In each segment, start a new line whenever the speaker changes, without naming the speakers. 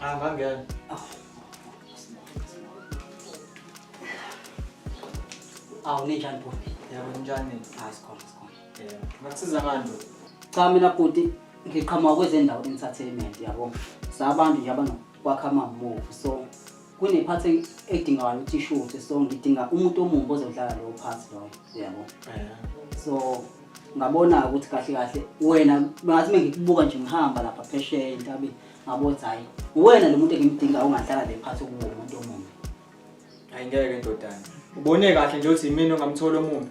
Hamba ngiyani.
Awu ninjani bhuti? Yebo ninjani?
Hayi sikhona sikhona.
Yebo.
Ngakusiza manje. Cha mina bhuti
ngiqhamuka kwezendawo entertainment yabo. Sabantu nje abanokwakha amamuvu so kunephathi eng- edingayo ukuthi ishuthe so ngidinga umuntu omumbi ozodlala lowo phathi loyo uyabo so ngabona-ke ukuthi kahle kahle wena ngathi mengikubuka nje ngihamba lapha phesheya entabeni ngabona ukuthi hhayi uwena lo muntu engimdingayo ongadlala le phathi okuwo umuntu omumbi Ayingeke
ndodana. Ubone kahle nje ukuthi yimina ongamthola omubi.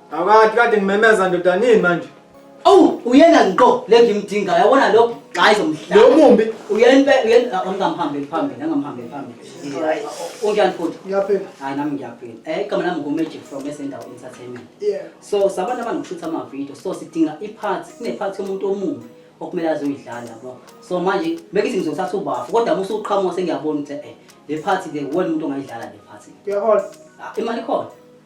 Awukade kade
ngimemeza ndoda nini manje? Awu uyena
nqo le ngimdingayo yabona lo gxayi zomhlaba. Lo mumbi Uyenpe
uyen
angamhambeli phambili angamhambeli phambili. Right. Unjani futhi? ngiyaphila. Hayi nami
ngiyaphila.
Eh igama lami nguMagic from Esendawo Entertainment. Yeah. So
sabantu abanokushutha
ama-video so sidinga i-part kune-part yomuntu omumbi okumele azoyidlala yabo so manje bekithi ngizothatha ubafu kodwa uma usuqhamuka sengiyabona ukuthi eh le part le wena umuntu ongayidlala le part Ngiyahola. Ah,
imali ikhona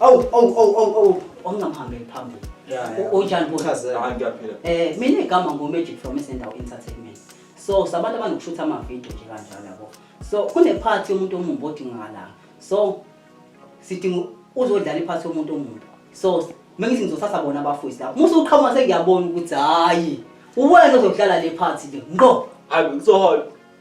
Awu awu awu awu awu ongamhambeli phambili. Yeah, yeah. U- Unjani bo? Chazel.
Hayi ngiyaphila. Eh mina igama ngo Magic
from Isendawo Entertainment. So sabantu abanokushutha ama video nje kanjalo yabo. So kune part yomuntu omumbi odingakala. So sidinga uzodlala iphathi yomuntu omumbi. So mengithi ngizothatha bona abafowisi lapho. Musa uqhamuka sengiyabona ukuthi hayi. Uwena ozodlala le part nje. Ngqo. Hayi ngizohola.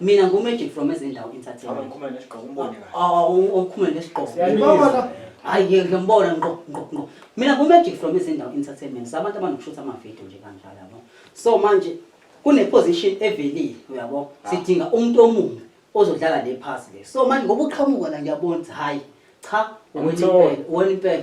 mina ngu magic from ezendawo entertainment
abakhumula nesigqoko umbone kahle
ah ukhumula nesigqoko ngibona
hayi yeke
ngiyambona ngqo ngqo ngqo mina ngu magic from ezendawo entertainment sabantu abanokushutha ama video nje kanjalo yabo so manje kune position evelile uyabo ah. sidinga umuntu omunye ozodlala le pass le so manje ngoba uqhamuka la ngiyabona hayi cha wena impela wena impela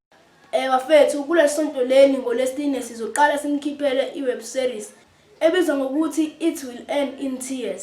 Eh
bafethu kulesonto leli ngolesine sizoqala simkhiphele iweb series ebizwa ngokuthi It Will End in Tears.